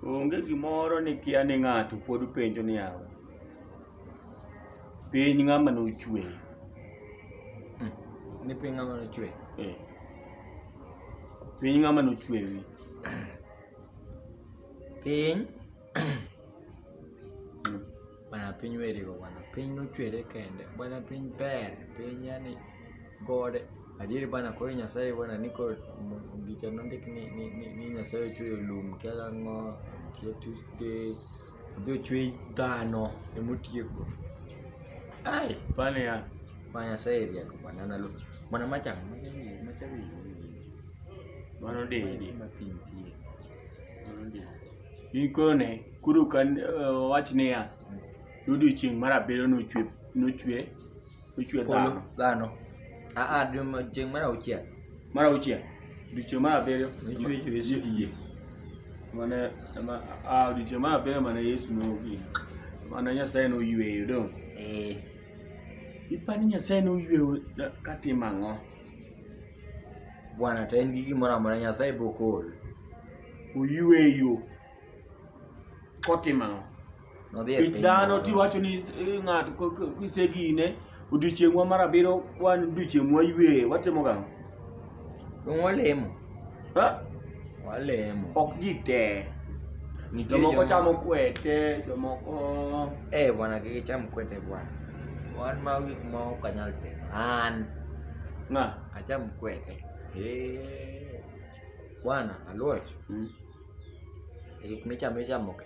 Onge gimoro ni kia ni ng'ato pod penjo ni yawa. Piny ng'ama nochwe. Ni piny ng'ama nochwe. Eh. Piny ng'ama nochwe wi. Piny Bwana piny werigo bwana, piny nochwere kende bwana, piny ber, piny yani gode adieri bwana. Koro Nyasaye bwana ni koro m- gicha nondik ni, ni, ni, ni Nyasaye ochweyo lum kia ang'o kia Tuesday odhi ochwe dhano emotieko. Ai bwana ya bwana Nyasaye rieko bwana na lu bwana machang machawi machawi mano didi mapintie. mano didi Gikone, koro kan eh, wach niya, odiochieng' mar abiriyo nochwe nochwe nochwe Polo, dhano. dhano. Ah, ah, dwe ma- chieng' mar auchiel. Mar auchiel, odiochieng' mar abiriyo Nochwe Yesu iye. mane ma a odiochieng' mar abiriyo mane Yesu nogi. Mane Nyasaye noyweyo dong'. Eh, Ipani Nyasaye noyweyo da- katimo ang'o? bwana to en gi gimoro amora Nyasaye bokol. oyweyo kotimo ang'o Nodhi e kech piny dhano moro. tiwacho ni eh, ng'ato ko- ko- kisegine odiochieng'wa mar abiriyo wan odiochieng' mwayweyo watimo gang'o Dong' walemo. Ha? Walemo. ok ji te Nitie jomoko joma- chamo kwete jomoko Eh, bwana kik icham kwete bwana. Wan ma gik ma ok anyal timo. An ng'a acham kwete. Eh. Bwana Aluoch, Mm. e gik michamo ichamo ke.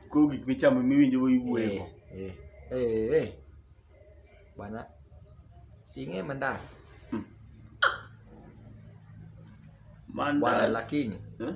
Ko gik michamo miwinjo go iwuoyo. Eh, eh, eh. Bwana, ing'e mandas. Bwana Mandas. lakini Eh?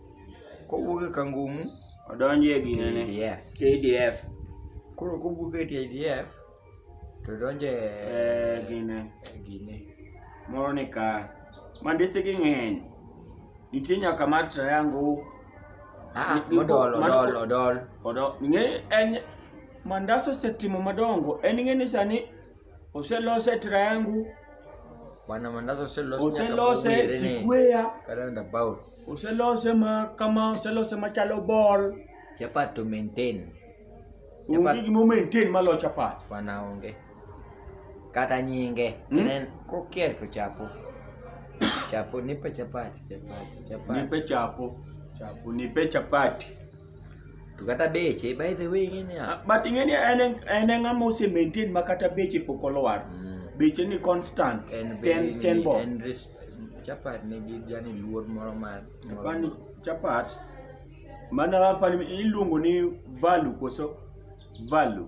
kowuok e kangumu odonjo e ginene KDF. KDF koro kowuok e TIDF to donjo e eh, gine e gine moro ni ka mandisigi ng'eny nitie nyaka mar triangle Ah, Ni- ni- odol mano- odol odol odo ng'e en mandas osetimo madongo en ng'e ni sani oselose triangle bwana mandazi oselose nyaka oselose mowire ni square karanda bao Oselose ma kama, oselose ma chalo ball. Chapat to maintain. Onge Chapat gima o maintain malo chapat. wana onge. Kata nyinge. Mm. Inen kokier to chapo. Chapo nipe chapat, chapat, chapat. Nipe chapo. Chapo, nipe chapati. to kata beche by the way ing'e niya Ah, but ing'eni en en e ng'ama ose maintain ma kata beche pok olwar mm, beche ni constant en ten very- ten bob en res- chapat nigi jani luor moro mar moro- Apani chapat mana apani iluongo ni value koso value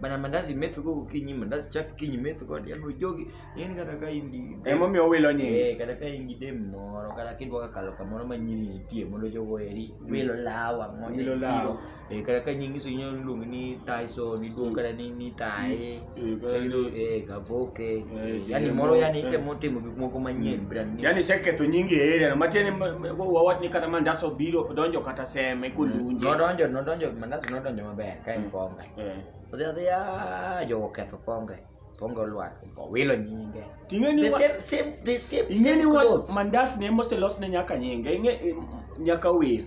bana mandazi metho go kinyi mandazi chak kinyi metho kod yani ojogi yani kata ka in gi Emomiyo wilo nyingi. Eh, kata ka in gi dem moro kata kidwa kakalo kamoro ma nyiri nitie mondo jogo eri wilo lawa mondo Wilo ibiro. lawa. Eh, kata ka nyingi so inyalo luongi ni Tyson iluongi kata ni ni Taye Eh, kata ni- eh Kavoke Eh, yani Jemo, moro yani eh. itemo timo gik moko manyien brand new Yaani iseketho nyingi e area no. Matiende ma- ma- wawach ni kata mandas obiro donjo kata seme kolunje. nodonjo nodonjo mandazi nodonjo maber ka en konga Eh. odhi adhiya jogo ketho ponge ponge olwar owilo nyinge Ting'e ni the wa- same same the same ing'e same ni wa- clothes mandas ne moselos ne nyaka nyinge ing'e eh, nyaka wir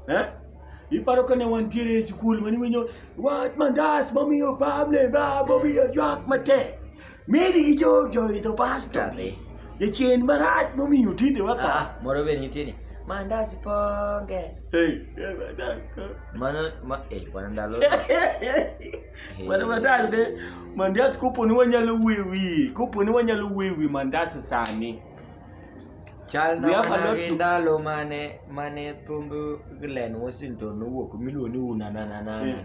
Eh? iparo ka ne wantiere e sikul mane winjo wat mandas momiyo pamne ba momiyo ywak matek Mary gi jo joidho pasta Be. jachien marach momiyo tinde watha Ah, moro be nitie ni mandas ponge Hey, eh, madas. mano ma eh bwana ndalo Mana matas ne mandas kopo ni wanyalo wuoyo wiye kopo ni wanyalo wuoyo wi mandas sani chal We na have a mana lot gi to- ndalo mane mane thumb Glen Washington nowuok miluongo ni unanananana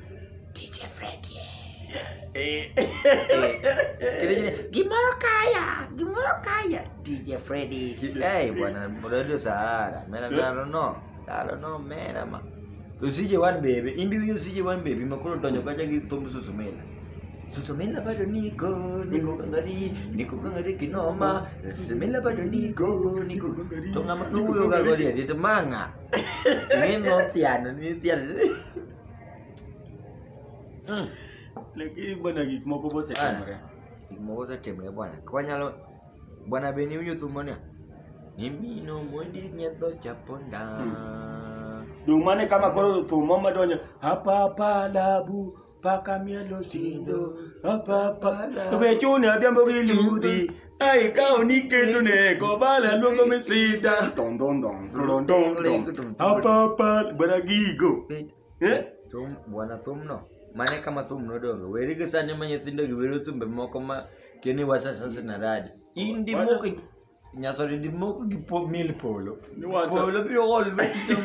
DJ Freddy. Eh. Kile kile gimoro kaya, gimoro kaya. DJ Freddy. Hey bwana, Radio Sahara. Mena I don't know. I don't know mena ma. Usije one baby, imbi winyo usije one baby, makolo tonyo kaja gi tomu susumena. Susumena bado niko, niko kangari, niko kangari kinoma. Susumena bado niko, niko kangari. Tonga makuyo kagori, dito manga. Ngeno tiano, ni tiano. Mm. Lakini bwana gik moko bosetimore. Gik moko osetimre bwana. Kwanyalo bwana be ni winjo thumbo ni. Nimino mondi nyedho chaponda. Dong mane kama koro thumbo madonjo hapa hapa labu paka mielo sindo hapa hapa we chune adhiambo gi ludhi Ai kao ni ketu ne ko bala luongo mi sita. Don don don don don don. Apa apa bwana gigo. Eh? Thum, bwana thumno mane kama thum nodongo weri gi sani ma nyithindo gi wero thumbe moko ma keni wasasasi na radi in dimoko nyasore dimoko gi po mil polo Ni wacho. polo biro ol vetito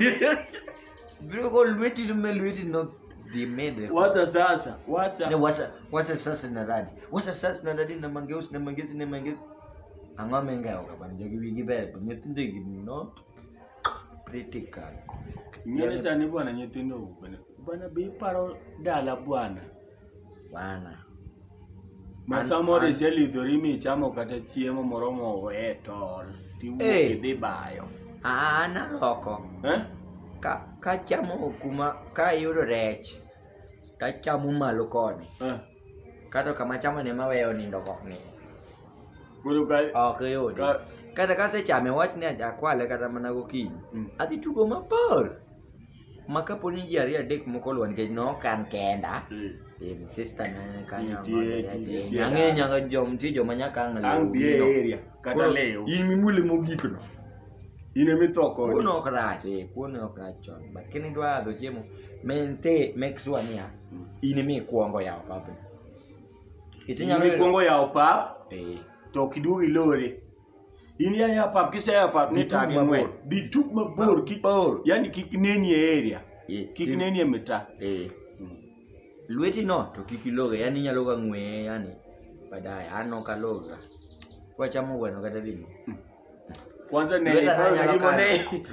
Bro, go lweti lume lweti no the made. Wasa sasa, wasa. Ne wasa wasa sasa na radi. Wasa sasa na radi na mangeus na mangeus na mangeus. Angwa menga oka ban jogi wigi ber to nyithindo gi no critical. Nyere sani bwana nyithindo bwana. Bwana be iparo dala bwana. bana ma An- samoro an- iselidhori michamo kata chiemo moro moweye tol tiwuok Eh. idhi bayo an aloko Eh? ka kachamo kuma ka ayudo rech tachamo malo koni Eh. kata kama chamo ne maweyo nindo kok ni koro ka ok yudi Ka- kata kasechame wach ni aja kwale kata mana gokinyi Mm. adhi tugo mabor ma kapo ni ji ariyo adek moko oluwo nikech nok an kenda Mm. eh, sister na kanyo Nitie, mother, nitie, yes, eh, nitie. nang'e nyaka jom nitie joma nyaka ang' Ang' lew bie gino. area kata Koro, lew. in mimule mogik no in ema itho kode kuon ok rach eh, kuon ok rach chon but kini dwa adho chiemo mente make sure niya Mm. in imi ikuongo yawo papni Nikech inyalo Inyalo yudo- ikuongo yawo pap eh, to ok iduog ilore. in ya ya pap kise ya pap ni Dhi tug tagi mabor. ng'wen dhi tug mabor kik Mabor. yani kik neni e area Eh, kik tim- neni e mita eh, lweti no to kik iloge yani inyalo ga ng'weye yani baadaye an ok aloga kwachamo gweno kata ring'o kwanza ne Lweta na anyalo kano-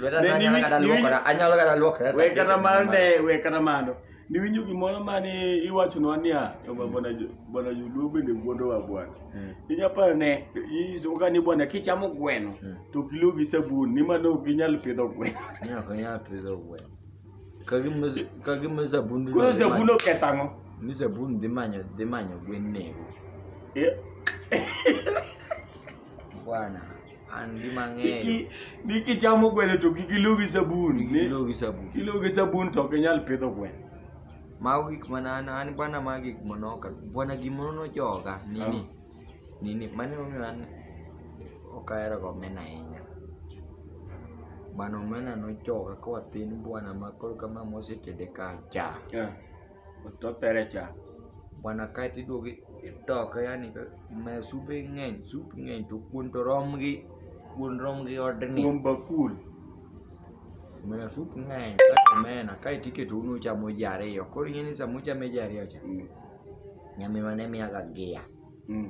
lweta na anyalo kata luokora anyalo kata luokora we kata mar ne we kata mano niwinjo gimoro mane iwachonwa niya "Yo, ba- bwana Jo- bwana joluo bende wuondowa bwana Mm. inyaparo ne isoka ni bwana kichamo gweno Mm. to ok iluw gi sabun ni mano ok inyal pidho gweno Ne ok anyal pidho gweno. Ka gima- ka gima sabun dhi koro manyo- sabun oketho ang'o ni sabun dhi manyo dhi manyo gwen nego Eh, bwana an gima ang'eyo Niki- nikichamo gweno to kik ilu gi sabun ni- kilo gi sabun kilu gi sabun to ok inyal pidho gweno mago gik mana an an bwana ma gik manoka bwana gimoro nojoga nini nini mane omiyo an ok ahero ga omena ahinya bwana omena nojoga ka wathin bwana ma koro kama mosetede ka cha Yeah. otopere cha bwana kae to iduogo itoke yani ma supe ng'eny sup ng'eny to kuon to rom gi kuon rom gi odni kuom bakul mana sup ng'eny kaka omena kae to iketo unu chamo ji ariyo koro ing'e ni sama uchame ji ariyo cha nyaminwa ne miyaga gia Mm.